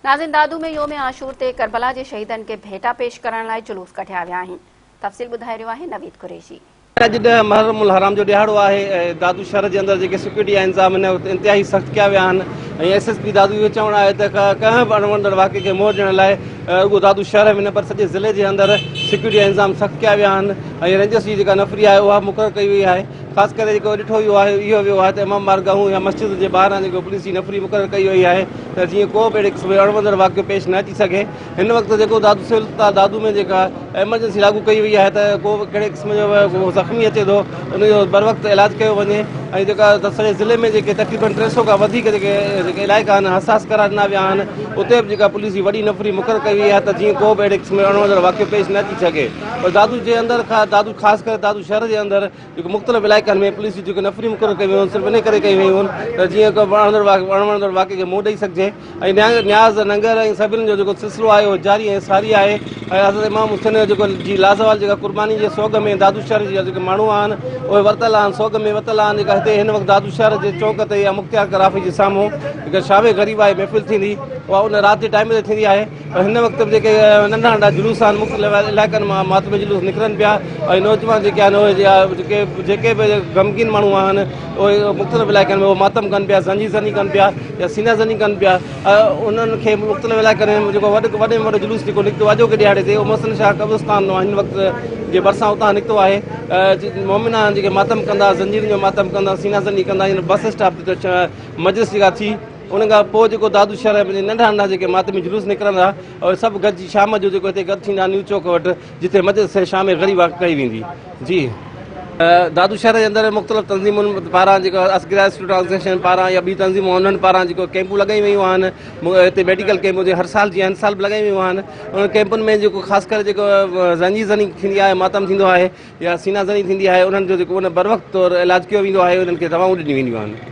ناظرين دادو ۾ يوم عاشور تي ڪربلا جي شهيدن کي ڀيٽا پيش ڪرڻ لاء جلوس ڪڍيا ويا آهن تفصيل ٻڌائي رهيو آهي نويد قريشي. اڄ ڏهه محرم الحرام جو ڏهاڙو آهي ۽ دادو شهر جي اندر جيڪي سيڪيورٽي جا انتظام هن وقت انتهائي سخت ڪيا ويا آهن ۽ ايس ايس پي دادو جو چوڻ آهي ته ڪنهن به اڻوڻندڙ واقعي کي منهن ڏيڻ لاء رڳو دادو شهر ۾ نه پر سڄي ضلعي جي اندر سيڪيورٽي جا انتظام سخت ڪيا ويا آهن ۽ رينجرس جي جيڪا نفري آهي اها مقرر ڪئي وئي آهي خاص ڪري جيڪو ڏٺو ويو آهي اهو ويو آهي ته امام بارگاهون يا مسجدن جي ٻاهران جيڪو پوليس جي نفري مقرر ڪئي وئي آهي ته جيئن ڪو به اهڙي قسم جو اڻوندڙ واقعو پيش نه اچي سگهي هن وقت جيڪو دادو سول اسپتال دادو ۾ جيڪا ايمرجنسي لاڳو ڪئي وئي آهي ته ڪو به ڪهڙي قسم جو به زخمي اچي ٿو ان جو بروقت علاج ڪيو وڃي ۽ جيڪا سڄي ضلعي ۾ جيڪي تقريبن ٽي سؤ کان وڌيڪ جيڪي علائقا آهن حساس قرار ڏنا ويا آهن اتي به جيڪا پوليس جي وڏي نفري مقرر ڪئي وئي آهي ته جيئن ڪو به اهڙي قسم جو اڻوندڙ واقعو پيش نه اچي سگهي پر دادو جي اندر دادو خاص ڪري دادو شهر جي اندر جيڪي مختلف علائقن ۾ پوليس جون جيڪي نفري مقرر ڪيون ويون هن صرف ان ڪري ڪيون ويون هن ته جيئن ڪو وڻندڙ وڻندڙ واقعي کي منهن ڏئي سگهجي ۽ نياز ننگر ۽ سبيلن جو جيڪو سلسلو آهي اهو جاري ۽ ساري آهي ۽ حضرت امام حسين جو جيڪو جي لازوال جيڪا قرباني جي سوڳ ۾ دادو شهر جا جيڪي ماڻهو آهن اهي ورتل آهن سوڳ ۾ ورتل آهن جيڪا هتي هن وقت دادو شهر جي چوڪ تي يا مختيار ڪرافي جي سامهون جيڪا شاهه غريب آهي محفل ٿيندي اها ان رات جي ٽائيم تي ٿيندي آهي پر هن وقت به جيڪي ننڍا ننڍا جلوس آهن مختلف علائقن مان ماتمي جلوس نڪرن پيا ۽ نوجوان جيڪي آهن اهي جا جيڪي جيڪي به غمگين ماڻهو آهن اهي مختلف علائقن ۾ اهو ماتم ڪن پيا زنجي زني ڪن پيا يا سينا زني ڪن پيا انهن کي مختلف علائقن ۾ جيڪو وڏ وڏ ۾ وڏو جلوس جيڪو نڪتو آجو ڪي ڏيهاڙي تي اهو محسن شاهه قبرستان هن وقت جي ڀرسان اتان نڪتو آهي مومنا جيڪي ماتم ڪندا زنجيرن جو ماتم ڪندا سينا زني ڪندا بس اسٽاپ تي مجلس جيڪا ٿي ان کان پوء جيڪو دادو شهر ۾ پنهنجي ننڍا ننڍا جيڪي ماتمي جلوس نڪرندا اهي سڀ گڏجي شام جو جيڪو هتي گڏ ٿيندا نيو چوڪ وٽ جتي مجلس شام غريب واقع ڪئي ويندي جي دادو شهر جي اندر مختلف تنظيمن پاران جيڪو اسگرا اسٽوڊنٽ آرگنائزيشن پاران يا ٻي تنظيمون انهن پاران جيڪو ڪيمپون لڳائي ويون آهن هتي ميڊيڪل ڪيمپون جي هر سال جي هن سال به لڳائي ويون آهن انهن ڪيمپن ۾ جيڪو خاص ڪري جيڪو زنجي زني ٿيندي آهي ماتم ٿيندو آهي يا سينا زني ٿيندي آهي انهن جو جيڪو ان بر وقت طور علاج ڪيو ويندو آهي انهن کي دوائون ڏنيون وينديون آهن